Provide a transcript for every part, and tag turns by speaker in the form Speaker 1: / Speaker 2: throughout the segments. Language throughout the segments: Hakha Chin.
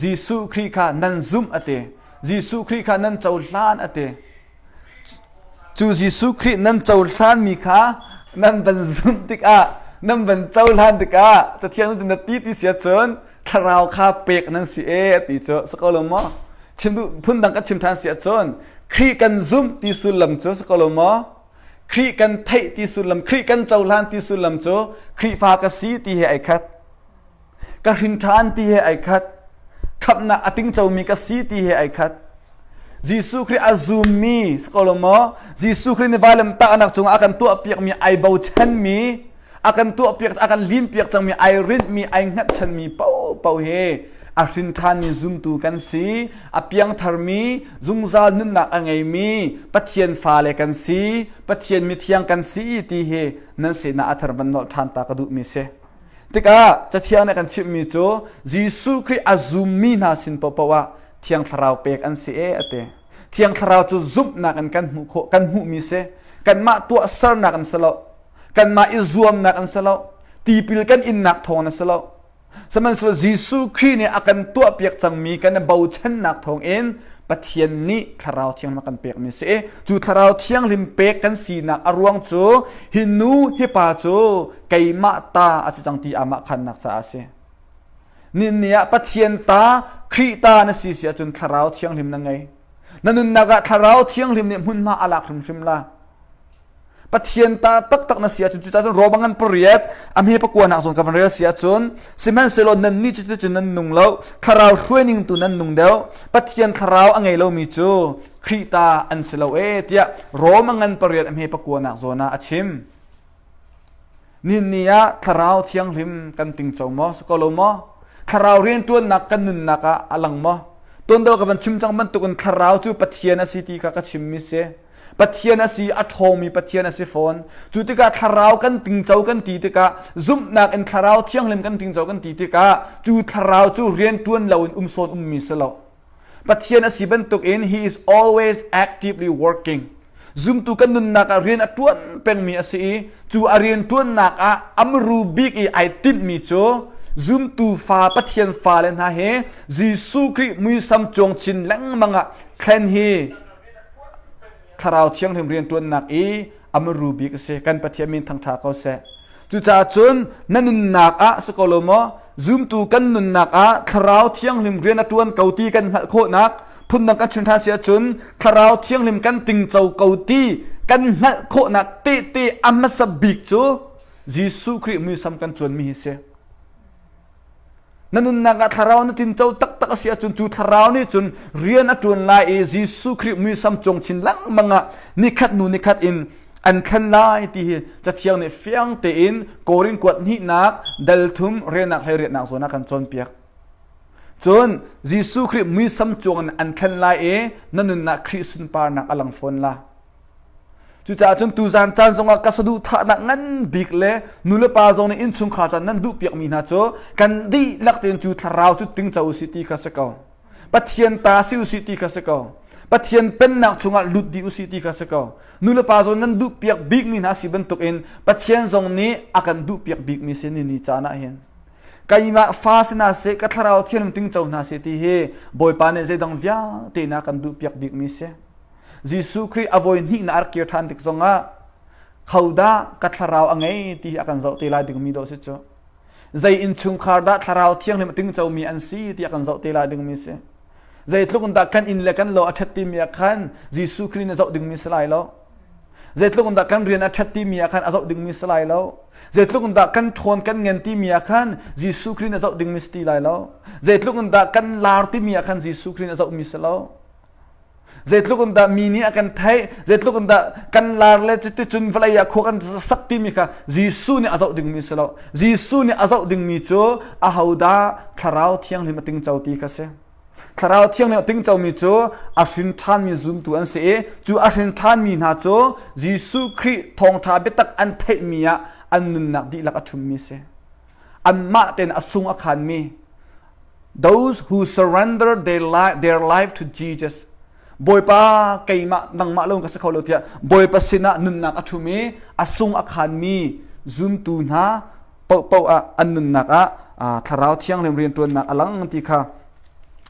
Speaker 1: Jesuh Khrih kha nan zumh a ti. Jesuh Khrih kha nan cohlan a ti. Cu Jesuh Khrih nan cohlanmi kha nan van zumh tikah, nan van cohlan tikah, Cathiang na ti ti sia cun thlarau kha pek nan si e a ti cu. Si ko lo maw? Chim duh phundang kan chim ṭhan si ahcun Khrih kan zumh ti sullam cu si ko lo maw? Khrih kan theih ti sullam, Khrih kan cohlan ti sullam cu Khrihfa ka si ti he ai khat. ka hrinṭhan ti he ai khat khamnak a tingcomi ka si ti he ai khat Jesuh Khrih a zummi si ko lo maw Jesuh Khrih nih vailem tahnak cungah a kan tuahpiakmi ai bochanmi a kan tuahpiak a kan linpiak cangmi ai rinhmi ai hngatchanmi popo he a hrinṭhanmi zumtu kan si a piangtharmi zungzal nunnak a ngeimi Pathian fale kan si Pathian mithiang kan si ti hi nan sinah a thar van nolh ṭhan ta ka duhmi si Tikah Cathiang nih kan chimhmi cu Jesuh Khrih a zummi hna sin paohpaoh ah Thiang Thlarau pek an si e a ti. Thiang Thlarau cu zumhnak in kan hmuh khawh kan hmuhmi si. Kanmah tuahsernak in si lo. Kanmah i zuamnak in si lo. Tipil kan innak thawng in si lo. Sihmanhsehlaw Jesuh Khrih nih a kan tuahpiak cangmi kan i bochannak thawng in Pathian nih thlarau thiang a kan pekmi si i cu thlarau thianghlim pek kan sinak a ruang cu hi nu hi pa cu keimah ta a si cang ti amah khannak caah a si. Ninni ah Pathian ta, Khrih ta na si si ahcun thlarau thianghlim na ngei. Na nunnak ah thlarau thianghlim nih hmunhma a lak hrimhrim la. Pathian ta taktak na si ahcun cucahcun roba ngan pariat amhe pakua nak zon ka van rel si ahcun sihmanhsehlaw nannih cu cucun nan nung lo thlarau hruaining tu nan nung deuh Pathian thlarau a ngei lomi cu Khrih ta an si lo e tiah Roma ngan pariat amhe pakua nak zon ah a chim. Ninni ah Thlarau Thianghlim kan ting co maw? Si ko lo maw? Thlarau rianṭuannak kan nunnak ah a lang maw? Tuanvo ka van chim cang bantukin thlarau cu Pathian a si ti kha ka chimmi si. Pathian a si, a ṭhawngmi Pathian a si fawn. Cu tikah thlarau kan tingco kan ti tikah, zumhnak in thlarau thianghlim kan tingco kan ti tikah, cu thlarau cu rianṭuan loin um sawn ummi si lo. Pathian a si bantukin he is always actively working. Zumtu kan nunnak ah rian a ṭuan pengmi a si i cu a rian ṭuannak ah amru bik i ai timhmi cu zumtu fa Pathian fale hna he Jesuh Khrih muisam cuang chin lengmang ah thlen hi Thlarau thianghlim rianṭuannak i a muru bik a si. Kan Pathian min thangṭha ko seh. Cucaah cun na nunnak ah si ko lo maw zumtu kan nunnak ah thlarau thianghlim rian a ṭuan ko ti kan hngalh khawhnak phundang kan chim ṭhan si ahcun thlarau thianghlim kan tingco ko ti kan hngalh khawhnak tehte a hmasa bik cu Jesuh Khrih muisam kan cuanmi hi si. Na nunnak ah thlarau na tinco taktak a si ahcun cu thlarau nih cun rian a ṭuan lai i Jesuh Khrih muisam cung chin lengmang ah nikhat hnu nikhat in an thlen lai ti hi cathiang nih fiang tein Korin kuat hnihnak dalthum renak hlei riatnak zawn ah kan cawnpiak. Cun Jesuh Khrih muisam cung an thlen lai i na nunnak Khrih sunparnak a lang fawn la. Cucaah cun tuzan caan zongah ka saduhthahnak ngan bik le nulepa zong nih innchungkhar caan nan duh piakmi hna cu kan dihlak tein cu thlarau cu tingco usih ti kha si ko. Pathian ta si usih ti kha si ko. Pathian pennak chungah lut dih usih ti kha si ko. Nulepa zong nan duh piak bikmi hna si bantukin Pathian zong nih a kan duh piak bikmi si ni ni caan ah hin. Keimah fa si hna seh, ka thlarau thianum tingco hna seh ti hi Bawipa nih zeidang vialte na kan duh piak bikmi si. Jesuh Khrih a voi hnih na ar kir ṭhan tik zongah khodah ka thlarau a ngei ti hi a kan zoh te lai dingmi dawh si cu zei innchungkhar dah thlarau thianghlim a tingcomi an si ti a kan zoh te lai dingmi si zeitluk in dah kan inn le kan lo a ṭhat timi ah khan Jesuh Khrih nih zoh dingmi si lai lo zeitluk in dah kan rian a ṭhat timi ah khan a zoh dingmi si lai lo zeitluk in dah kan ṭhawn kan ngen timi ah khan Jesuh Khrih nih a zoh dingmi si ti lai lo zeitluk in dah kan lar timi ah khan Jesuh Khrih nih a zohmi si lo Zeitluk in dah mi nih a kan theih, zeitluk in dah kan lar le cuticun vawlei ah khua kan sak timi kha Jesuh nih a zoh dingmi si lo. Jesuh nih a zoh dingmi cu ahodah thlarau thianghlim a tingco ti kha si. Thlarau thianghlim a tingcomi cu a hrin ṭhanmi zumtu an si i cu a hrin ṭhanmi hna cu Jesuh Khrih thawngṭha biatak an theihmi ah an nunnak dihlak a ṭhummi si. anmah ten a sung a khanmi those who surrender their life, their life to Jesus Bawipa keimah nangmah lo ka si kho lo tiah Bawipa sinah nunnak a ṭhum i a sung a khanmi zumtu hna popo ah an nunnak ah thlarau thianghlim rianṭuannak a lang ti kha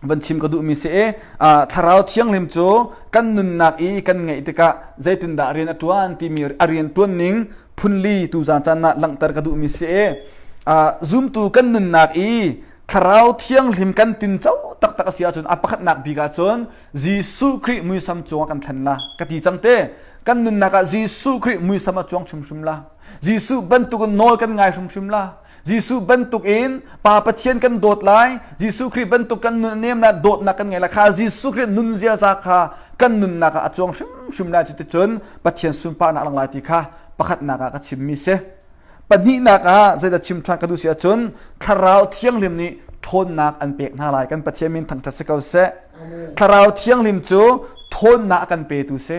Speaker 1: van chim ka duhmi si e thlarau thianghlim cu kan nunnak i kan ngeih tikah zeitindah rian a ṭuan timi a rian ṭuan ning phunli tuzan caan na langhter ka duhmi si e zumtu kan nunnak i thlarau thianghlim kan tin cho taktak a si ahcun a pakhatnak bik ahcun Jesuh Khrih muisam cungah kan thlen la ka ti cang te kan nunnak ah Jesuh Khrih muisam a cuang hrimhrim la Jesuh bantukin nawl kan ngai hrimhrim la Jesuh bantukin Pa Pathian kan dawt lai. Jesuh Khrih bantuk kan nun a nemnak dawtnak kan ngei lai kha Jesuh Khrih nunzia za kha kan nunnak ah a cuang hrimhrim lai cuticun Pathian sunparnak lang lai ti kha pakhatnak ah ka chimmi si. Pahnihnak ah zeidah chim ṭhan ka duh si ahcun thlarau thianghlim nih ṭhawnnak an pek hna lai. Kan Pathian min thangṭhat si ko seh. Thlarau thianghlim cu ṭhawnnak a kan petu si.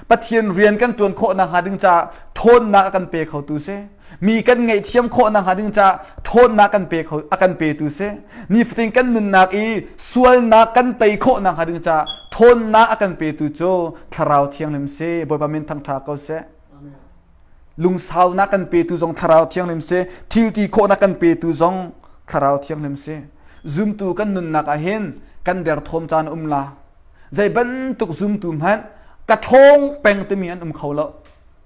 Speaker 1: Pathian rian kan ṭuan khawh nakhnga ding caah ṭhawnnak a kan pe khotu si. Mi kan ngaihthiam khawh nakhnga ding caah ṭhawnnak kan pe kho a kan petu si. Nifatin kan nunnak i sualnak kan tei khawh nakhnga ding caah ṭhawnnak a kan petu cu thlarau thianghlim si. Bawipa min thangṭha ko seh. Lungsaunak kan petu zong thlarau thianghlim si. Thilti khawhnak kan petu zong thlarau thianghlim si. Zumtu kan nunnak ah hin kan derthawm caan um la. Zei bantuk zumtu hmanh ka ṭhawng peng timi an um kho lo.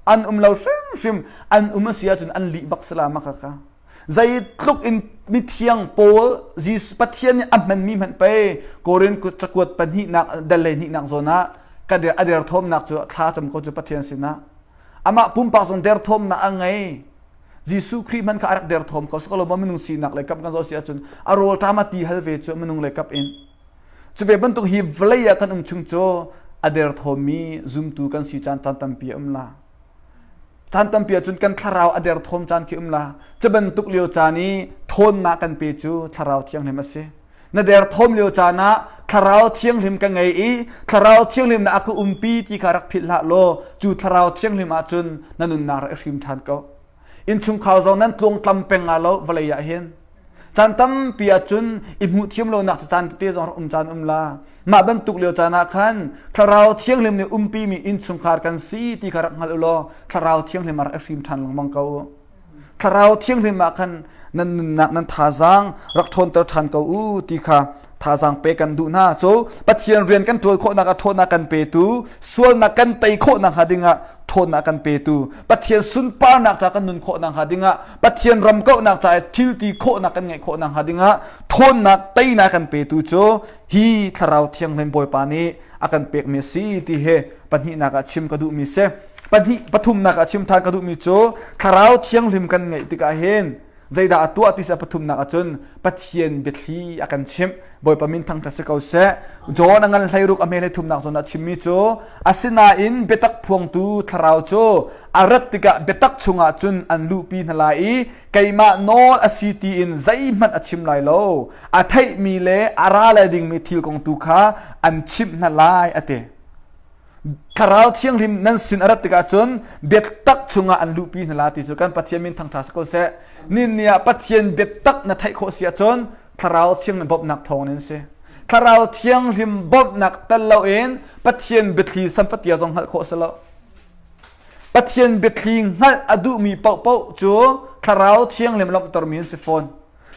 Speaker 1: An um lo hrimhrim. An um a si ahcun an lih bak sala ma kaka. Zei tluk in mithiang Paul Jesus Pathian nih a hmanmi hmanh pei Korin cakuat pahnihnak dal le hnihnak zawn ah ka der a derthawmnak cu thla cam ko cu Pathian sinah amah pumpak zong derthawmnak a ngei. Jesuh Khrih hmanh kha a rak derthawm ko. Sikalaw minung sinak le kap kan zoh si ahcun a rawlṭam a ti hal ve cu minung le kap in Cuve bantuk hi vawlei ah kan um chung cu a derthawmi zumtu kan si caan caan tampi a um la. Caan tampi ahcun kan thlarau a derthawm caan khi um la. Cu bantuk lio caan i thawnnak kan pe cu thlarau thianghlim a si. Na derthawm lio caan ah thlarau thianghlim ka ngei i thlarau thianghlim na aka umpi ti kha rak philh hlah law cu thlarau thianghlim ahcun na nunnak rak i hrim ṭhan ko. innchungkhar zong nan tlung tlam peng nga lo vawlei ah hin caan tampi ah cun i hmuh thiam lonak cu caan tete zong um caan um la mah bantuk lio caan ah khan thlarau thianghlim nih umpi mi innchungkhar kan si ti kha rak hngal u law thlarau thianghlim a rak hrim ṭhan lengmang ko thlarau thianghlim ah khan nan nunnak nan thazaang rak ṭhawnter ṭhan ko u ti kha thazaang pe kan duh hna so pathian rian kan ṭuan khawhnak a ṭhawnnak kan petu sualnak kan tei khawhnak hnga dingah ṭhawnnak kan petu pathian sunparnak ca kan nun khawhnak hnga dingah pathian ram kauhnak ca i thil ti khawhnak kan ngeih khawhnak hnga dingah ṭhawnnak teinak kan petu cu hi thlarau thianghlim bawipa nih a kan pekmi a si ti he pahnihnak ah chim ka duhmi si pahnih pathumnak ah chim ṭhan ka duhmi cu thlarau thianghlim kan ngeih tikah hin zeidah a tuah ti a pathumnak ahcun pathian biathli a kan chimh bawipa min thang si ko seh john a ngan hleiruk a hme le thumnak zawn a chimmi cu asinain biatak phuangtu thlarau cu a rat tikah biatak chungah cun an luhpi hna lai i keimah nawl a si tiin zeihmanh a chim lai lo a theihmi le a ra le dingmi thil kong tu kha an chimh hna lai a ti Thlarau thianghlim nan sin a rat tikah cun biatak chungah an luhpi hna la ti cu kan Pathian min thangṭha sako seh. Nin ni ah Pathian biatak na theih khawh si ahcun thlarau thianghlim bawmhnak thawng in si. Thlarau thianghlim bawmhnak tel loin Pathian biathli sanfatia zong hngalh khawh si lo. Pathian biathli hngalh a duhmi paohpaoh cu thlarau thianghlim lawmhtermi an si fawn.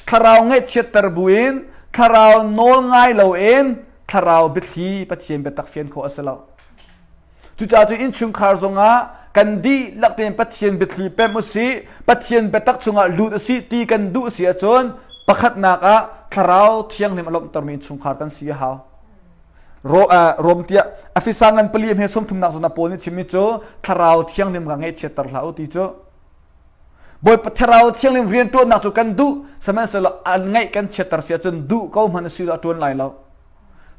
Speaker 1: thlarau ngaihchiatter buin thlarau nawl ngai loin thlarau biathli pathian biatak fian khawh a si lo cucaah cu innchungkhar zongah kan dihlak tein pathian biathli pem u si pathian biatak chungah lut u si ti kan duh si ahcun pakhatnak ah thlarau thianghlim a lawmhtermi innchungkhar kan si a hau rom tiah afisa ngan pali he sawmthumnak zona pawl nih chimmi cu thlarau thianghlim ka ngeih chiatter hlah u ti cu Bawipa thlarau thianghlim rianṭuannak cu kan duh, sihmanhsehlaw an ngaih kan chiatter si ahcun duh ko hmanh si law a ṭuan lai lo.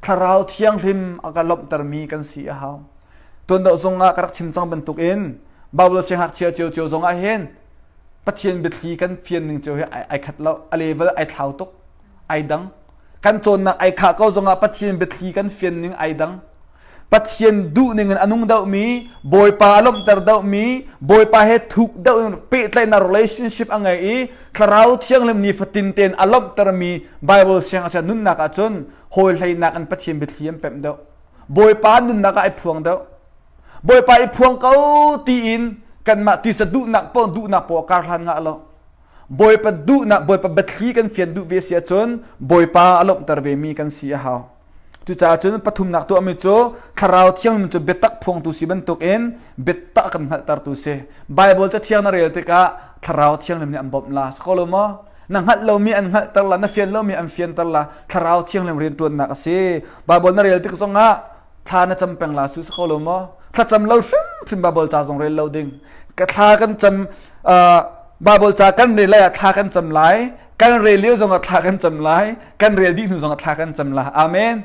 Speaker 1: Thlarau thianghlim a ka lawmhtermi kan si a hau. Tuan dawh zongah ka rak chim cang bantukin Bible siangngakchia cio cio zongah hin Pathian biathli kan fian ning cio hi ai khat lo, a level ai thlau tuk, ai dang. Kan cawnnak ai khah ko zongah Pathian biathli kan fian ning ai dang. Pathian duh ning in a nung dohmi, Bawipa a lawmhter dohmi, Bawipa he thuk deuh in pehtlaihnak relationship a ngei i thlarau thianghlim nifatin tein a lawmhtermi Bible siangngakchia nunnak ahcun hawi hleinak in Pathian biathli an pemh deuh. Bawipa nunnak ah i phuang deuh. Bawipa i phuang ko tiin kanmah tisa duhnak paoh duhnak paoh a kar hlan ngah lo. Bawipa duhnak, Bawipa biathli kan fian duh ve si ahcun Bawipa a lawmhter vemi kan si a hau. Cucaah cun pathumnak tuahmi cu thlarau thiangmin cu biatak phuangtu si bantukin biatak kan hngalhtertu si. Baibal cathiang na rel tikah thlarau thianghlim nih an bawmh la si ko lo maw? Na hngalh lomi an hngalhter la, na fian lomi an fianter la, thlarau thianghlim rianṭuannak a si. Baibal na rel tik zongah thla na cam peng la su si ko lo maw? Thlacam lo hrimhrim Baibal ca zong rel lo ding. Ka thla kan cam, uh, Baibal ca kan rel lai ah thla kan cam lai. kan rel lio zong ah thla kan cam lai kan rel dih hnu zong ah thla kan cam lai amen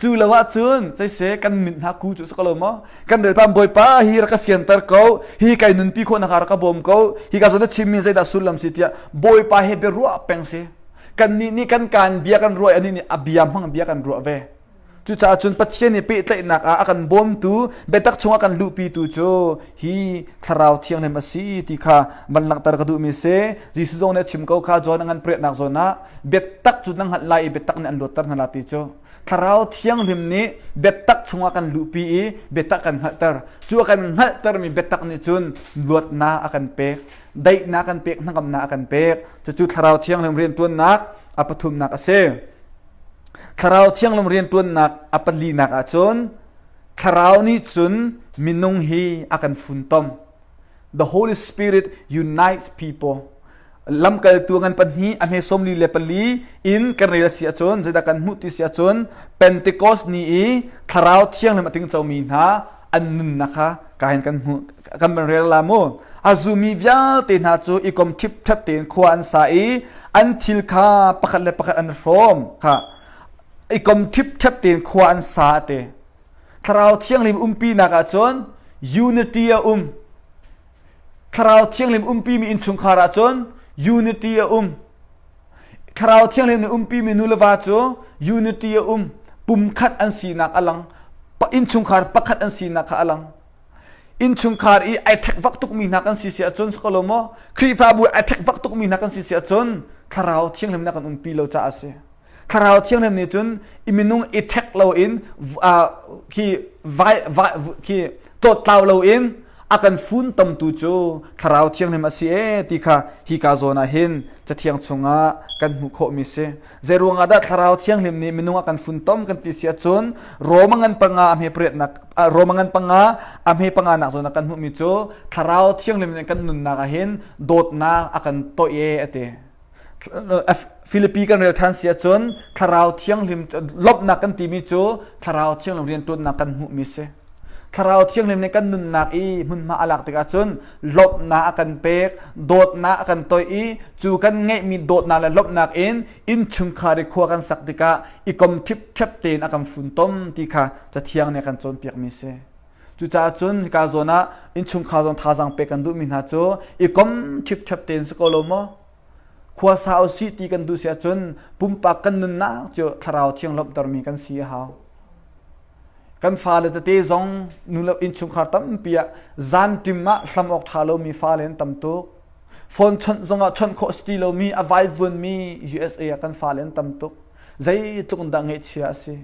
Speaker 1: cu lo ah cun cese kan min hna ku cu saka lo mo kan rel pam boipa hi raka fianter ko hi kai nunpi kho na ka raka bom ko hi ka zona chim min zeidah sullam si tia boipa he be ruah peng si kan ni ni kan kan bia kan ruai ani ni abiam hang bia kan ruah ve Cucaah cun Pathian i pehtlaihnak ah a kan bawmtu biatak chungah kan luhpitu cu hi thlarau thianghlim a si ti kha van langhter ka duhmi a si. Jesuh zong nih a chim ko kha John a ngan pariatnak zawn ah biatak cu na hngalh lai i biatak nih an luatter hna la ti cu thlarau thianghlim nih biatak chungah kan luhpi i biatak kan hngalhter cu a kan hngalhtermi biatak nih cun luatnak a kan pek daihnak kan pek hnangamnak a kan pek cucu thlarau thianghlim rianṭuannak a pathumnak a si Thlarau thianglung rianṭuannak a palinak ah cun thlarau nih cun minung hi a kan funtom. The Holy Spirit unites people. Lamkaltu ngan pahnih a hmesawm li le pali in kan rel a si ahcun zeidah kan hmuh ti si ahcun Pentecost ni i thlarau thianglung a ting comi hna an nunnak kha kain kan hmu kan rel la mu a zumi vialte hna cu i kom thip that tein khua an sa i an thil kha pakhat le pakhat an hrawm kha i kom thip that tein khua an sa te thlarau thianghlim umpi nak ah cun unity a um thlarau thianghlim umpi mi in chungkhar ah cun unity a um Thlarau thianghlim in umpimi nuleva cu unity a um. Pumkhat an sinak a lang. Innchungkhar pakhat an sinak kha a lang. Innchungkhar i ai thekvak tukmi hna kan si si ahcun sok lo maw Khrihfabu ai thekvak tukmi hna kan si si ahcun thlarau thianghlim na kan umpi lo caah a si. Thlarau thianghlim nih cun i minung i thek lo in hi vai vai khi tlawtlau lo in a kan funtamtu cu thlarau thianghlim a si e ti kha hi ka zawn ah hin cathiang chungah kan hmuh khawhmi si zeiruangah dah thlarau thianghlim nih minung a kan funtom kan ti si ahcun Roma ngan panga a hme pariatnak Roma ngan panga a hme panga nak zawn ah kan hmuhmi cu thlarau thianghlim nih kan nunnak ah hin dawtnak a kan toih e a ti Filipi kan rel than si ahcun thlarau thianghlim lawmhnak kan timi cu thlarau thianghlim riantuannak kan hmuhmi si. Thlarau thianghlim nih kan nunnak i hmunhma a lak tikah cun lawmhnak a kan pek, dawtnak a kan toih i cu kan ngeihmi dawtnak le lawmhnak in innchungkhar i khua kan sak tikah i kom ṭhip ṭhep tein a kan funtom ti kha cathiang nih a kan cawnpiakmi si. Cucaah cun hika zawn ah innchungkhar zong thazaang pek kan duhmi hna cu i kom ṭhipṭhep tein si ko lo maw? Khua sa u sih ti kan duh si ahcun pumpak kan nunnak cu thlarau thiang lawmhtermi kan si a hau. Kan fale tete zong nulap innchungkhar tampi ah zantim ah hlam awk ṭha lomi fale an tam tuk. Phone chawnh zongah chawnh khawh si ti lomi a vaivunmi USA ah kan fale an tam tuk. Zeitluk in dah ngeihchia a si?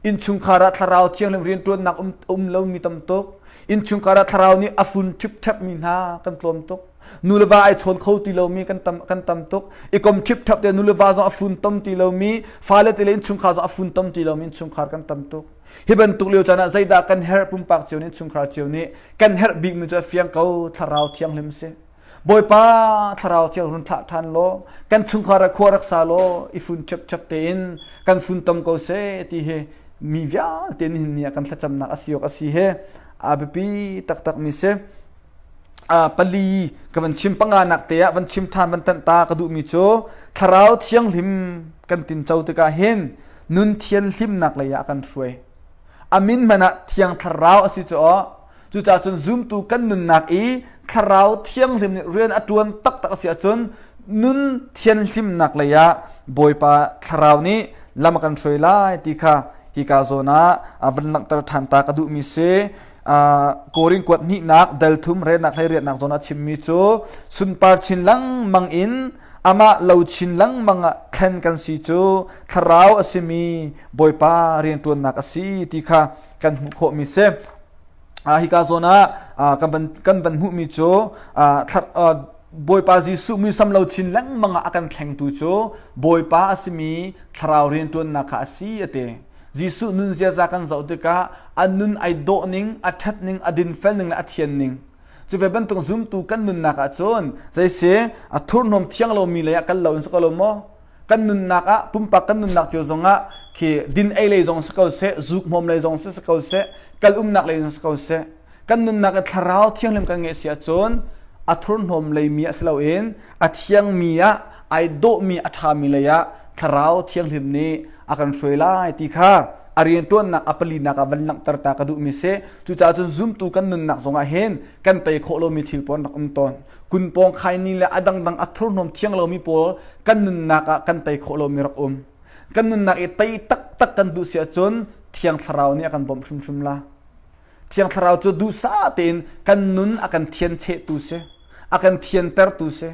Speaker 1: Innchungkhar ah thlarau thianghlim rianṭuannak um a um lomi tam tuk. Innchungkhar ah thlarau nih a fun ṭhipṭhep mi hna kan tlawm tuk. Nuleva ai chawn kho ti lomi kan tam kan tam tuk. I kom ṭhipṭhep te nuleva zong a fun tom ti lomi, fale te le innchungkhar zong a fun tom ti lomi innchungkhar kan tam tuk. Hi bantuk lio caan ah zeidah kan herh pumpak cio nih innchungkhar cio nih kan herh bikmi cu a fiang ko thlarau thianghlim si. Bawipa thlarau thiang hun thlah ṭhan law kan chungkhar ah khua rak sa law i fun chep chep tein kan funtom ko se ti hi mi vialte nih ni ah kan thlacamnak asi awk asi he a biapi taktakmi si pali ka van chim panga nak te ah van chim ṭhan van tanh ta ka duhmi cu thlarau thianghlim kan tinco tikah hin nun thian hlimnak lei ah kan hruai amin man ah thiang thlarau asi cu Cucaah cun zumtu kan nunnak i thlarau thianghlim nih rian a ṭuan taktak a si ahcun nun thianhlimnak lei ah Bawipa thlarau nih lam a kan hruai lai ti kha hika zawn ah a van langhter ṭhan ta ka duhmi si. Korin kuat hnihnak delthum renak hlei riatnak zawn ah chimmi cu sunpar chin lengmang in amah lo chin lengmang ah thlen kan si cu thlarau a simi Bawipa rianṭuannak a si ti kha kan hmuh khawhmi si ah hika zawn ah kan van kan van hmuhmi cu Bawipa Jesuh muisam lo thin lengmang ah a kan thlengtu cu Bawipa a simi thlarau rianṭuannak kha a si a ti. Jesuh nun ziaza kan zoh tikah a nun ai dawh ning, a ṭhat ning, a dinfel ning le a thian ning. Cu ve bantuk zumtu kan nunnak ah cun, zei si, a thurhnawm thiang lomi lei ah kan lo in sak lo maw? kan nunnak ah pumpak kan nunnak cio zongah khi din ei lei zong si ko seh zuk hmawm lei zong si si ko seh kal umnak lei zong si ko seh kan nunnak i thlarau thianghlim kan ngeih si ahcun a thurhnawm lei mi ah si loin a thiang mi ah ai dawh mi a ṭha mi lei ah thlarau thianghlim nih a kan hruai lai ti kha a rianṭuannak a palinak ah van langhter ta ka duhmi si cucaah cun zumtu kan nunnak zongah hin kan tei khawh lomi thil pawn rak um tawn kun pawng khai ni le a dangdang a thurhnawm thiang lomi pawl kan nunnak ah kan tei khawh lomi rak um kan nunnak i tei taktak kan duh si ahcun thiang thlarau nih a kan bawmh hrimhrim la thiang thlarau cu duhsah tein kan nun a kan thian chehtu si a kan thiantertu si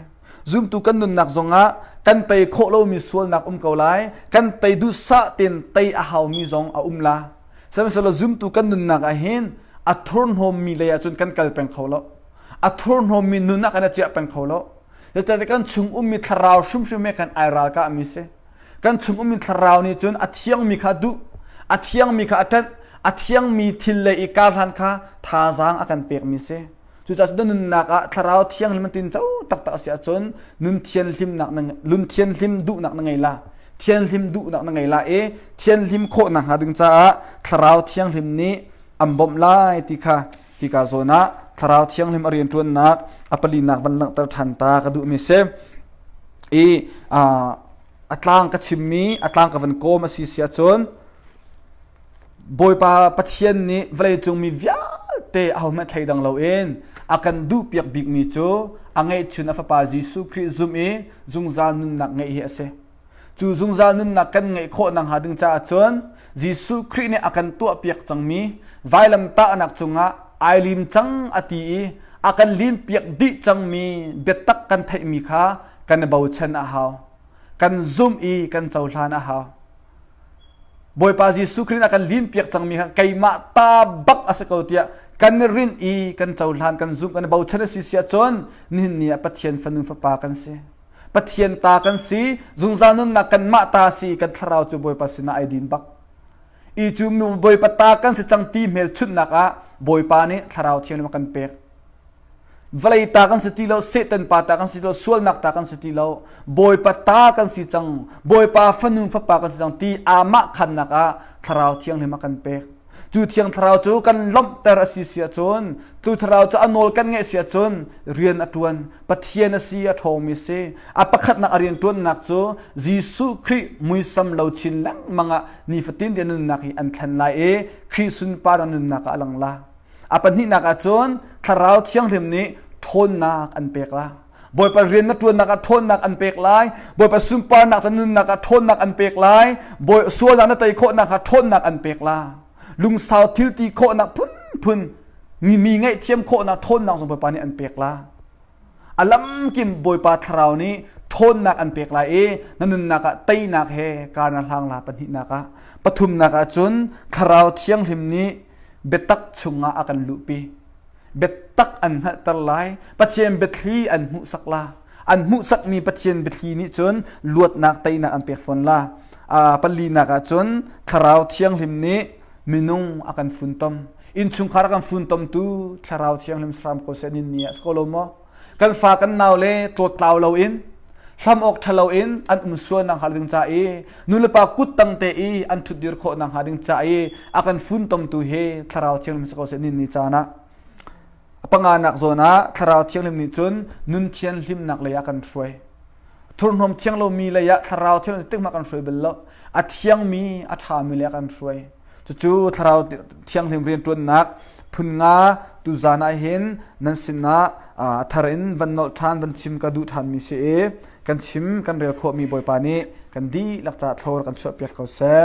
Speaker 1: zumtu kan nunnak zongah kan tei khawh lomi sualnak um ko lai kan tei duhsah tein tei a haumi zong a um la sihmanhsehlaw zumtu kan nunnak ah hin a thurhnawmmi lei ahcun kan kal peng kho lo A thurhnawmmi nun ah kan i ciah peng kho lo. Zeicahtiah kan chung ummi thlarau hrimhrim he kan ai ralkahmi si. Kan chung ummi thlarau nih cun a thiangmi kha duh, a thiangmi kha a ṭanh, a thiangmi thil lei i karhlan kha thazaang a kan pekmi si. Cucaah cutin nunnak ah thlarau thianghlim an tin co taktak a si ahcun nun thianhlimnak na nun thianhlim duhnak na ngei la. Thianhlim duhnak na ngei la i thianhlim khawh nakhnga ding caah thlarau thianghlim nih an bawmh lai ti kha Hika zawn ah thlarau thianghlim a rianṭuannak a palinak van langhter ṭhan ta ka duhmi si. I a tlang ka chimmi, a tlang ka van kawm a si si ahcun Bawipa Pathian nih vawleicungmi vialte ahohmanh thlei dang loin a kan duhpiak bikmi cu a ngeihchun a Fapa Jesuh Khrih zumh i zungzal nunnak ngeih hi a si. Cu zungzal nunnak kan ngeih khawh nakhnga ding caah cun Jesuh Khrih nih a kan tuahpiak cangmi vailamtahnak cungah ai lim cang a ti i a kan limpiak dih cangmi biatak kan theihmi kha kan i bochan a hau. Kan zumh i kan cohlan a hau. Bawipa Jesuh Khrih nih a kan limpiak cangmi kha keimah ta bak a si ko tiah kan i rinh i kan cohlan, kan zumh, kan i bochan a si si ahcun nihin ni ah Pathian fanu fapa kan si. Pathian ta kan si, zungzal nunnak kanmah ta si kan thlarau cu Bawipa sinah ai din bak. I cu Bawipa ta kan si cang ti hmelchunhnak ah Bawipa nih thlarau thiang kan pek. Vawlei ta kan si ti lo, Satan pa ta kan si lo, sualnak ta kan si ti lo, Bawipa ta kan si cang, Bawipa fanu fapa kan si cang ti amah khamnak ah thlarau thianghlim a kan pek. cu thiang thlarau cu kan lawmhter a si si ahcun tu thlarau cu a nawl kan ngeih si ahcun rian a ṭuan pathian a si a ṭhawmi si a pakhatnak a rian ṭuannak cu Jesuh Khrih muisam lo chin lengmang ah nifatin tein nunnak hi an thlen lai i Khrih sunpar a nunnak ah a lang la a pahnihnak ah cun thlarau thianghlim nih ṭhawnnak an pek la Bawipa rian na ṭuannak ah ṭhawnnak an pek lai. Bawipa sunparnak cun nunnak ah ṭhawnnak an pek lai. Bawi sualnak na tei khawhnak kha ṭhawnnak an pek lai. Lungsau thil ti khawhnak phunphun mi ngaihthiam khawhnak ṭhawnnak zong Bawipa nih an pek lai. A lamkim Bawipa thlarau nih ṭhawnnak an pek lai i na nunnak ah teinak he kana hlang la pahnihnak ah pathumnak ah cun thlarau thianghlim nih biatak chungah a kan luhpi. biatak an hngalhter lai pathian biathli an hmuhsak la an hmuhsakmi pathian biathli nih cun luatnak teinak an pek fawn la palinak ah cun thlarau thianghlim nih minung a kan funtom innchungkhar a kan funtomtu thlarau thianghlim saram ko se ni a si ko lo maw kan fa kan nau le tlawtlau loin hlam awk ṭha loin an um sual nakhnga ding ca i nulepa kut tangte i an ṭhutdir khawh nakhnga ding ca i a kan funtomtu hi thlarau thianghlim si ko seh ninni caan ah panganak zawn ah thlarau thianghlim nih cun nun thian hlimnak lei ah kan hruai thurhnawm thiang lomi lei ah thlarau thil tikmak kan hruai bal lo a thiangmi a ṭhami lei ah kan hruai cucu thlarau thianghlim rianṭuannak phun nga tuzan ah hin nan sinah thar in van nolh ṭhan van chim ka duh ṭhanmi si i kan chim kan rel khawhmi bawipa nih kan dihlak ca thlor kan chuahpiak ko seh